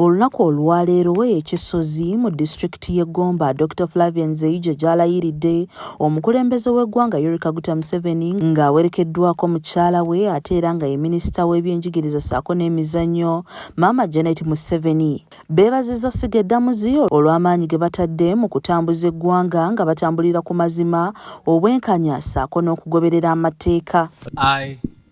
Olunaku olwaleero we e Kisozi mu disitulikiti y'e Gomba, Dokita Flavia Nzeija gy'alayiridde omukulembeze w'eggwanga Yoweri Kaguta Museveni ng'awerekeddwako mukyala we ate era nga ye minisita w'ebyenjigiriza ssaako n'emizannyo Maama Janet Museveni beebazizza ssiga eddamuzi olw'amaanyi ge batadde mu kutambuza eggwanga nga batambulira ku mazima, obwenkanya ssaako n'okugoberera amateeka. I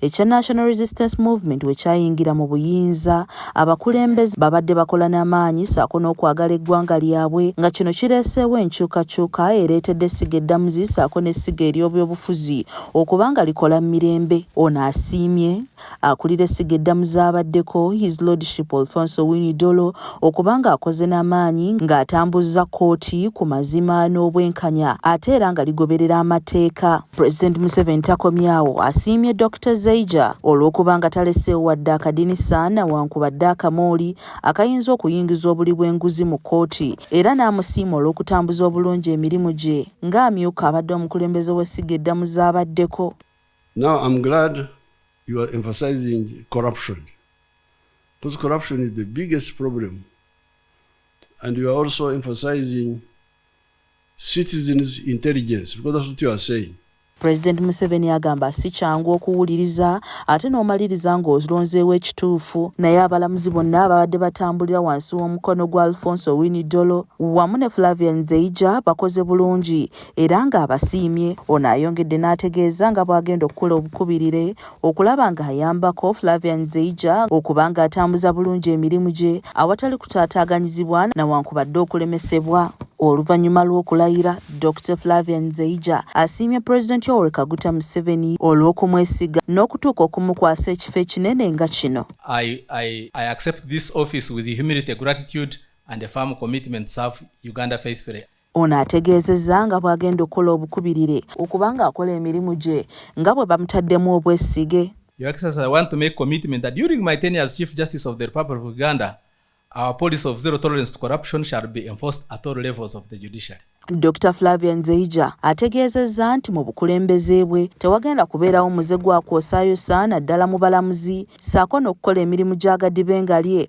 ekya National Resistance Movement we kyayingira mu buyinza, abakulembeze babadde bakola n'amaanyi ssaako n'okwagala eggwanga lyabwe nga kino kireeseewo enkyukakyuka ereetedde essiga eddamuzi ssaako n'essiga ery'obyobufuzi okuba nga likola mu mirembe. Ono asiimye akulira essiga eddamuzi abaddeko, His Lordship Alfonso Winnie Dolo okuba ng'akoze na maanyi ng'atambuzza kkooti ku mazima n'obwenkanya ate era nga ligoberera amateeka. Pulezidenti Museveni takomyawo, asiimye Dokita Zeija olw'okuba nga taleseewo wadde akadinisa na wankubadde akamooli akayinza okuyingiza obuli bw'enguzi mu kkooti era n'amusiima olw'okutambuza obulungi emirimu gye ng'amyuka abadde omukulembeze w'essiga eddamu z'abaddeko. Now I'm glad you are emphasizing corruption. Because corruption is the biggest problem. And you are also emphasizing citizens intelligence because that's what you are saying. President Museveni agamba si kyangu okuwuliriza ate n'omaliriza ng'olonzeewo ekituufu naye abalamuzi bonna ababadde batambulira wansi w'omukono gwa Alfonso Winidolo wamu ne Flavia Nzeija bakoze bulungi era ng'abasiimye. Ono ayongedde n'ategeeza nga bw'agenda okukola obukubirire okulaba nga ayambako Flavian Zeija okuba nga atambuza bulungi emirimu gye awatali kutaataaganyizibwa na wankubadde okulemesebwa. Oluvannyuma lw'okulayira, Dokita Flavian Zeija asiimye Pulezidenti Yoweri Kaguta Museveni olw'okumwesiga n'okutuuka okumukwasa ekifo ekinene nga kino. I, I, I accept this office with humility, gratitude and a firm commitment to serve Uganda faithfully. Ono ategeezezza nga bw'agenda okukola obukubirire okuba ng'akola emirimu gye nga bwe bamutaddemu obwesige. Your Excellency, I want to make commitment that during my tenure as Chief Justice of the Republic of Uganda, our policy of zero tolerance to corruption shall be enforced at all levels of the judiciary. Dokita Flavia Nzeija ategeezezza nti mu bukulembeze bwe tewagenda kubeerawo muze gwa kwosaayosa naddala mu balamuzi ssaako n'okukola emirimu gya gadibengalye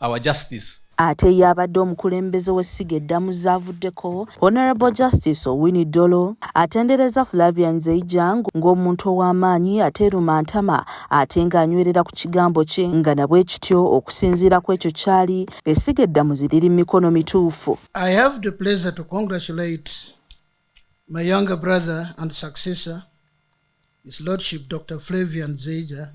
our justice. Ate ye abadde omukulembeze w'essiga eddamu zaavuddeko, Honourable Justice Owiny Dollo atenderezza Flavia Nzeijang ng'omuntu ow'amaanyi ate erumantama ate ng'anywerera ku kigambo kye nga na bwe kityo okusinziira ku ekyo ky'ali essiga eddamuzi liri mu mikono mituufu. I have the pleasure to congratulate my younger brother and successor, His Lordship Doctor Flavia Nzeijang